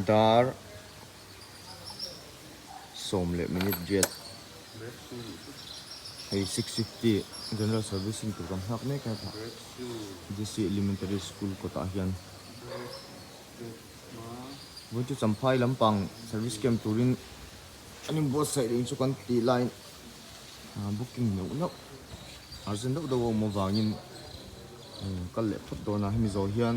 Dar sawm leh minute riat hei six fifty general servicing tur kan nghak mek a tha DC elementary school kawtah hian vawin chu Champhai lampang service camp turin an inbuatsaih reng chu kan tih lai ah booking neuh neuh arjent deuh deuh a awm avangin kal leh phawt dawnah hemi zawh hian.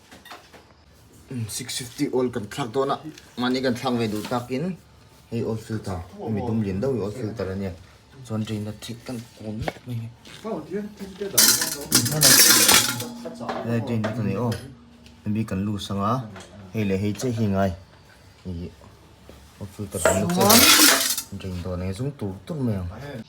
six fifty oil kan thlak dawn a mahni kan thlang ve duh tak in hei oil filter mi dum lian deuh hi oil filter a nia chuan drain a thik kan kawm mek mai hi hei drain a ta ni aw hemi kan lu sang a hei leh hei che hi ngai ih oil filter kan la che a drain dawn eng zung tur tur mai ang.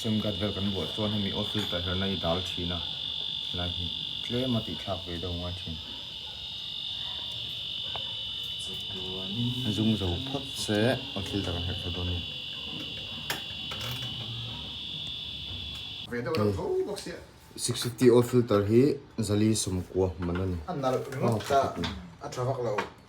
Sim card vel kan vuah chuan hemi off filter her na i dal thin a, helai hi tlem a tih thlak ve deuh ngai thin. Zung zo phawt se off filter kan herh thla dawn nen. Six fifty off filter hi zali sum kua hman a ni.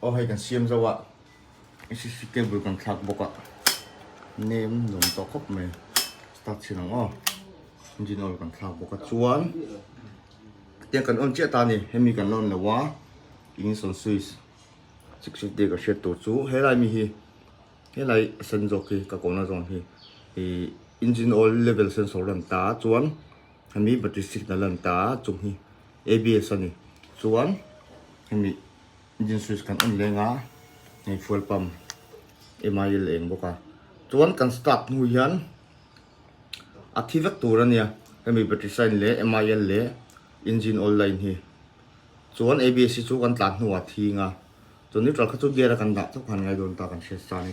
Aw hei kan siam zo a, cctv cable kan thlak bawk a, nem nuam tawh khawp mai, start chhin ang aw, engine oil kan thlak bawk a chuan hetiang kan on chiah ta a ni, hemi kan la on lo a, ignition switch chik chik te ka hriat tur chu helai mi hi, helai a sen zawk hi ka kawna zawn hi ih engine oil level sensor lan ta a chuan hemi battery signal lan ta a chung hi abs a ni chuan hemi. Engine switch kan on leng a, hei fuel pump MIL a eng bawk a, chuan kan start hnu hian a thi vek tur a nia, hemi battery sign leh MIL leh engine oil line hi, chuan ABS hi chu kan tlan hnuah thing a, chu neutral kha chu gear a kan dah chauh khan ngai dawn ta kan hriat sa a ni.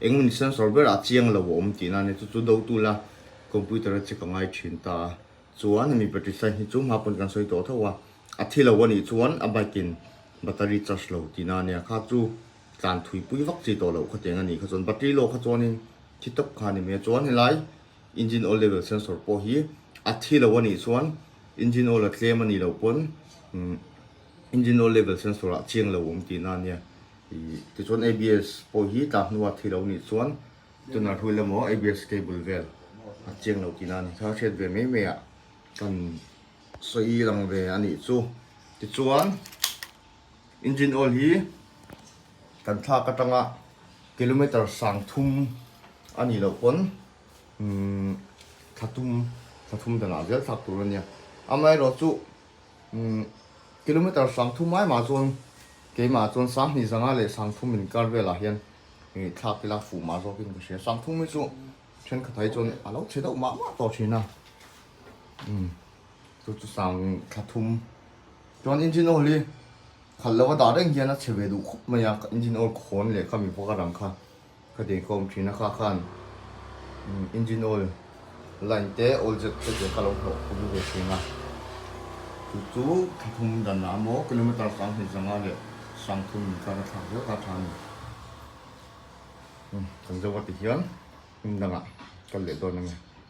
Eng maw ni sensor ber ah chiang lo a awm tih nan e, chu chu do tula computer a check a ngai thin ta a. Chuan hemi battery sign hi chu hma pawn kan sawi tawh tho a, a thi lo a nih chuan a bike in battery charge lo tih nan e, a kha chu tlan thui pui vak chi tawh loh kha tiang a nih kha chuan battery lawk kha chuanin thi tawp kha a ni mai a. Chuan helai engine oil level sensor pawh hi a thi lo a nih chuan engine oil a tlem a nih loh pawn engine oil level sensor ah chiang lo a awm tih nan nia. Tichuan abs pawh hi tla hnua thi lo nih chuan tuner hlui lamawh abs cable vel a cheng lo tihna a ni kha, hriat ve mai mai a kan sawi lang ve a nih chu. Tichuan engine oil hi kan thlak atanga kilometer sang thum a nih loh pawn thla tum thla thum danah zel thlak tur a nia. Amaherawhchu Kilometer sang thum ai mah chuan keimah chuan sang hnih zanga leh sang thum in kar velah hian ih thlak ila fuh mah zawkin ka hria. Sang thum hi chu thenkhatah hi chuan a lo chhe deuh mah mah tawh thin a. Umm chu chu sang thla thum chuan engine oil hi khalh lo a dah reng hian a chhe ve duh khawp mai a. Engine oil khawn leh ka mipuaka rang kha Ka dei kawm thin a kha khan engine oil line te oil zet te te ka lo hlawh pawlh ve thin a, chu chu thlathum dan a maw kilometer sang hnih zanga leh sang thum min tlar a thlak viau ta tha a ni. Kan zoa ti hian hnim dangah kal leh dawn a ni.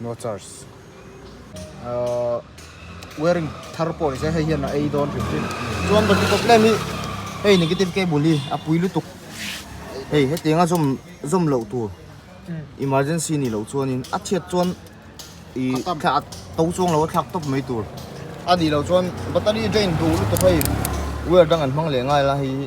no charge ahh wearing thar pawh ni se hei hian a ei dawn ringawt in chuan battery problem hi hei negative cable hi a pui lutuk hei hetiang a zawm zawm loh tur emergency nih loh chuan in a chhiat chuan ih thlak a to chuang lo a thlak tawp mai tur a nih loh chuan battery drain duh lutuk hei wire dang an hmang leh ngai la hei hi.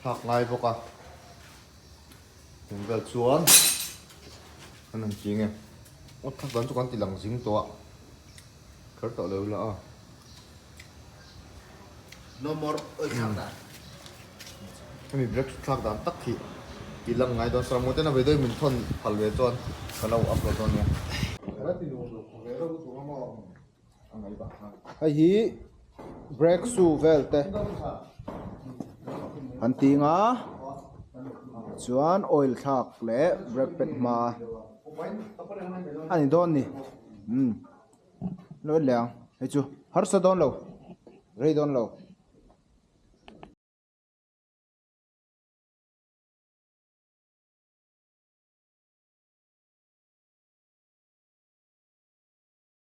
Nghak ngai bawk a, engvel chuan an han ching em? Aw thak dan chu kan ti lang zing tawh a, kher tawh lo ila a. No more oi thlak dan. Hemi break chu thlak dan tak hi ti lang ngai dawn. Saramawite na vei dawi min thawn phal ve chuan ka lo upload dawn nia. Hei hi breakthrough vel te an ti ang a chuan oil thlak leh brake pad hma a ni dawn ni umm lawt leh ang hei chu harsa dawn lo rei dawn lo.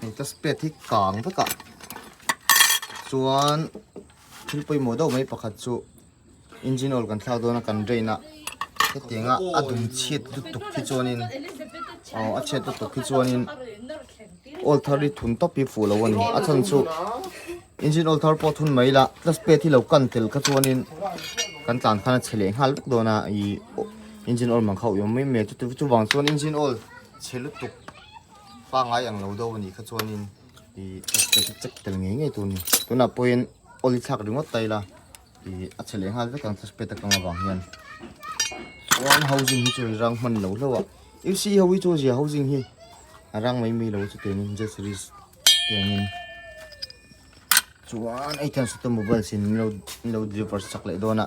hei ta spet hi kang vek a chuan thil pawimawh deuh mai pakhat chu engine oil kan thlak dawn a kan drain a hetiang a a dum chhiat lutuk khi chuanin aw a chhiat lutuk khi chuanin oil thar hi thun tawp hi fuh loh a ni a chhan chu engine oil thar pawh thun mai la ta spet hi lo kan tel kha chuanin kan tlan khan a chhe leh nghal vek dawn a i engine oil mang kha uiawm mai mai a chu vang chuan engine oil chhe lutuk Fa ngai ang lo deuh a nih kha chuanin i extra chu check tel ngei ngei tur a ni. Tunah pawhin awl i thlak ringawt ta ila i a chhe leh nghal vek ang clutch pad atang avang hian. Chuan housing hi chu hei rang hman lo hlauh a. Ipc ho hi chu a zia housing hi a rang mai mai lo chu tiang in Z series tiang in. Chuan hei chuan Sutemobile sin in lo deliver chak leh dawn a.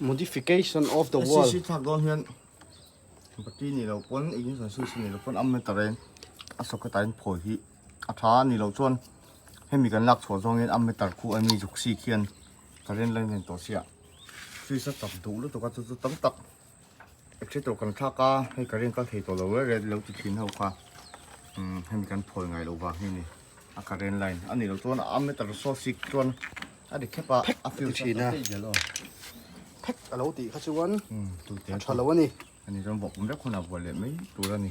modification of the world si thak don hian bati ni lo pon ignition switch ni lo pon am na ta ren a socket a in phawi hi a tha ni lo chuan hemi kan lak chhuah zawngin a meter khu a ni zuk si khian current line nen tawh sia switch a chak duh lutuk a chu chu tam tak Actually tawh kan thlak a, hei ka reng kal thei tawh lo reh reh lo ti thin ho kha umm hemi kan phawi ngai lo vang hi a ni a current line a nih loh chuan a ammeter saw sik chuan a ri khep a a fuse chu a tih zel aw phek a lo tih kha chuan umm tute a tha lo a ni hemi chuan vawk awm vek hunah vuah leh mai tur a ni.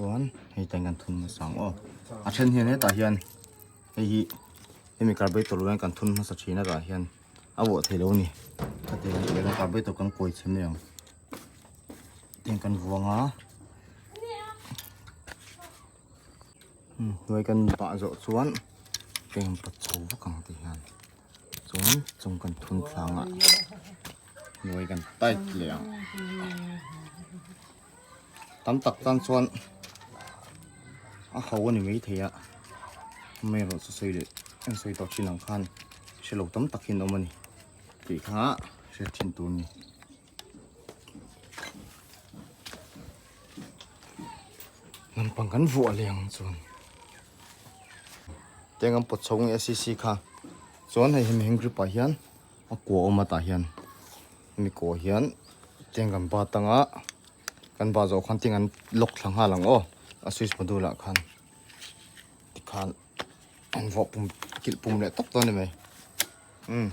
chuan hei tlai kan thun hmasa ang aw a then hian hetah hian hei hi hemi carburetor lo hian kan thun hmasa thin a tah hian a vuah theih lo a ni khati kan ti leh a carburetor kan kawi chhim mai ang hetiang kan vuang a. hnuai kan pah zawh chuan eng pawt chho vak ang te hian chuan chung kan thun thlang a hnuai kan tight leh ang tam tak tan chuan a ho a ni maithei a hma erawh chu sawi leh eng sawi tawh thin ang khan hrelo tam tak hi an awm a ni tih kha hriat thin tur a ni. lampang kan vuah leh ang chuan teng an pawt chhawng e si si kha chuan hei hemi heng gripah hian a kua awm atah hian hemi kua hian teng kan ba tang a kan ba zawh khan teng an lock thla nghal ang aw a switch module ah khan tikhan an vawh pum kilh pum leh tawp chuan ni mai um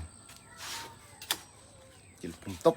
kilh pum tawp